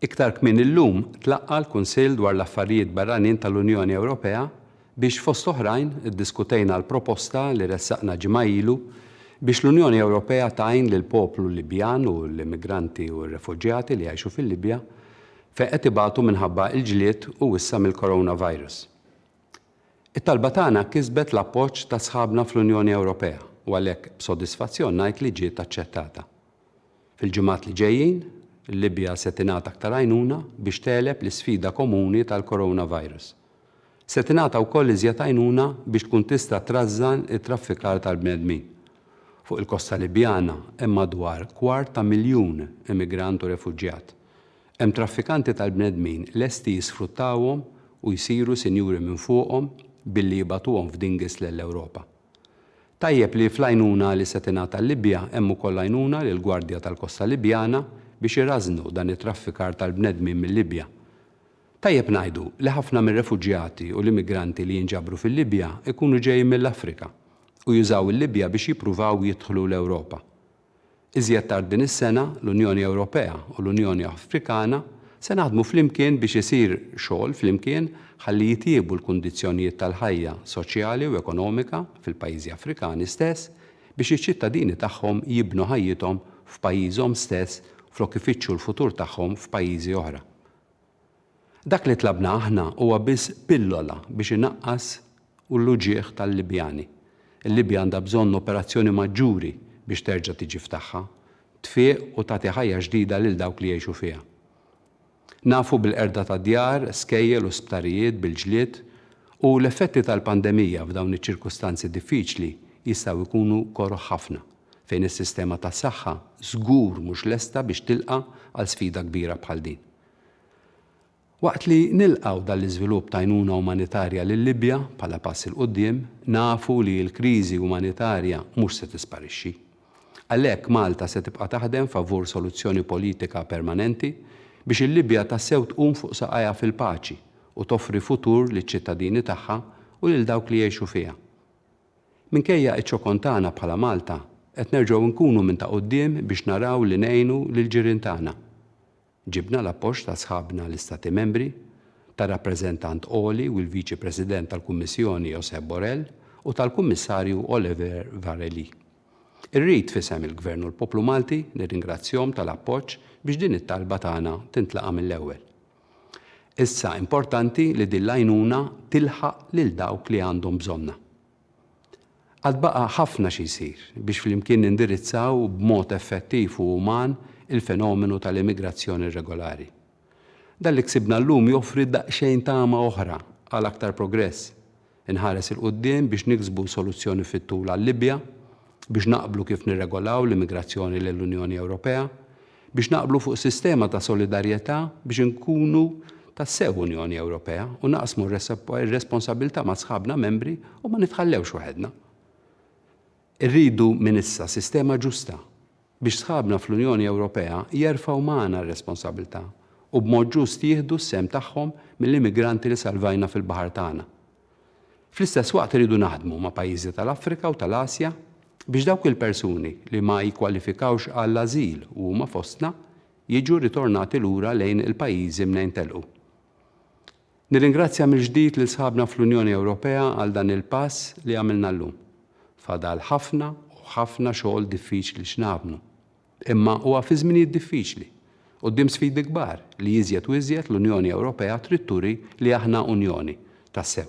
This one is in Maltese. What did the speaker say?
Iktar kmieni illum tlaqqa' l-Kunsill dwar l-Affarijiet Barranin tal-Unjoni Ewropea biex fost oħrajn iddiskutejna l-proposta li ressaqna ġimgħa ilu biex l-Unjoni Ewropea tgħin lill-poplu Libjan u l-immigranti u r-refuġjati li jgħixu fil-Libja fejn qed ibatu minħabba l-ġlied u issa mill-coronavirus. It-talba tagħna kisbet l-appoġġ ta' sħabna fl-Unjoni Ewropea u għalhekk b'sodisfazzjon ngħid li ġiet aċċettata. Fil-ġimgħat li ġejjin, il-Libja se tingħata aktar għajnuna biex tegħleb l-isfida komuni tal-coronavirus. Se tingħata wkoll iżjed għajnuna biex tkun tista' trażżan it-traffikar tal-bnedmin. Fuq il-kosta Libjana hemm madwar kwart ta' miljun immigrant u refuġjat. Hemm traffikanti tal-bnedmin lesti jisfruttawhom u jsiru sinjuri minn fuqhom billi jibagħtuhom f'dinghies lell-Ewropa. Tajjeb li fl-għajnuna li se tingħata l-Libja hemm ukoll għajnuna lill-Gwardja tal-Kosta Libjana biex irażżnu dan it-traffikar tal-bnedmin mil-Libja. Tajjeb ngħidu li ħafna mir-refuġjati u l-immigranti li jinġabru fil-Libja jkunu ġejjin mill-Afrika u jużaw il-Libja biex jippruvaw jidħlu l-Ewropa. Iżjed tard din is-sena, l-Unjoni Ewropea u l-Unjoni Afrikana se naħdmu flimkien biex isir xogħol flimkien ħalli jitjiebu l-kundizzjonijiet tal-ħajja soċjali u ekonomika fil-pajjiżi Afrikani stess biex iċ-ċittadini tagħhom jibnu ħajjithom f'pajjiżhom stess flok ifittxu l-futur tagħhom f'pajjiżi oħra. Dak li tlabna aħna huwa biss pillola biex inaqqas u l-uġigħ tal-Libjani. Il-Libja għandha bżonn operazzjoni maġġuri biex terġa' tiġi f'tagħha, tfieq u tagħti ħajja ġdida lil dawk li jgħixu fiha. Nafu bil-qerda ta' djar, skejjel u sptarijiet bil-ġlied u l-effetti tal-pandemija f'dawn iċ-ċirkustanzi diffiċli jistgħu jkunu koroh ħafna, fejn is-sistema tas-saħħa żgur mhux lesta biex tilqa' għal sfida kbira bħal din. Waqt li nilqgħu dan l-iżvilupp t'għajnuna umanitarja lil Libja bħala pass 'il quddiem, nafu li l-kriżi umanitarja mhux se tisparixxi. Għalhekk Malta se tibqa' taħdem favur soluzzjoni politika permanenti biex il-Libja tassew tqum fuq saqajha fil-paċi u toffri futur liċ-ċittadini tagħha u lil dawk li jgħixu fiha. Minkejja ċ-ċokon tagħna bħala Malta, qed nerġgħu nkunu minn ta' quddiem biex naraw li ngħinu lill-ġirien tagħna. Ġibna l-appoġġ ta' sħabna l-Istati Membri, tar-Rappreżentant Għoli u l-Viċi President tal-Kummissjoni Josep Borrell u tal-Kummissarju Oliver Várhelyi. Irrid, f'isem il-Gvern u l-poplu Malti, nirringrazzjahom tal-appoġġ biex din it-talba tagħna tintlaqa' mill-ewwel. Issa importanti li din l-għajnuna tilħaq lil dawk li għandhom bżonnha. Għad baqa' ħafna xi jsir biex flimkien nindirizzaw b'mod effettiv u uman il-fenomenu tal-immigrazzjoni irregolari. Dan li ksibna llum joffri daqsxejn tama oħra għal aktar progress. Inħares 'il quddiem biex niksbu soluzzjoni fit-tul għal-Libja, biex naqblu kif nirregolaw l-immigrazzjoni lejn l-Unjoni Ewropea, biex naqblu fuq sistema ta' solidarjetà biex inkunu tassew Unjoni Ewropea u naqsmu r-responsabbiltà ma' sħabna membri u ma nitħallewx waħedna. Irridu minn issa sistema ġusta biex sħabna fl-Unjoni Ewropea jerfgħu magħna r-responsabbiltà u b'mod ġust jieħdu s-sehem tagħhom mill-immigranti li salvajna fil-baħar tagħna. Fl-istess waqt irridu naħdmu ma' pajjiżi tal-Afrika u tal-Asja biex dawk il-persuni li ma jikkwalifikawx għall-ażil u huma fostna jiġu ritornati lura lejn il-pajjiżi mnejn telqu. Nirringrazzja mill-ġdid lil sħabna fl-Unjoni Ewropea għal dan il-pass li għamilna llum. Fadal ħafna u ħafna xogħol diffiċli x'nagħmlu. Imma huwa fi żminijiet diffiċli, quddiem sfidi kbar, li iżjed u iżjed l-Unjoni Ewropea trid turi li aħna Unjoni tassew.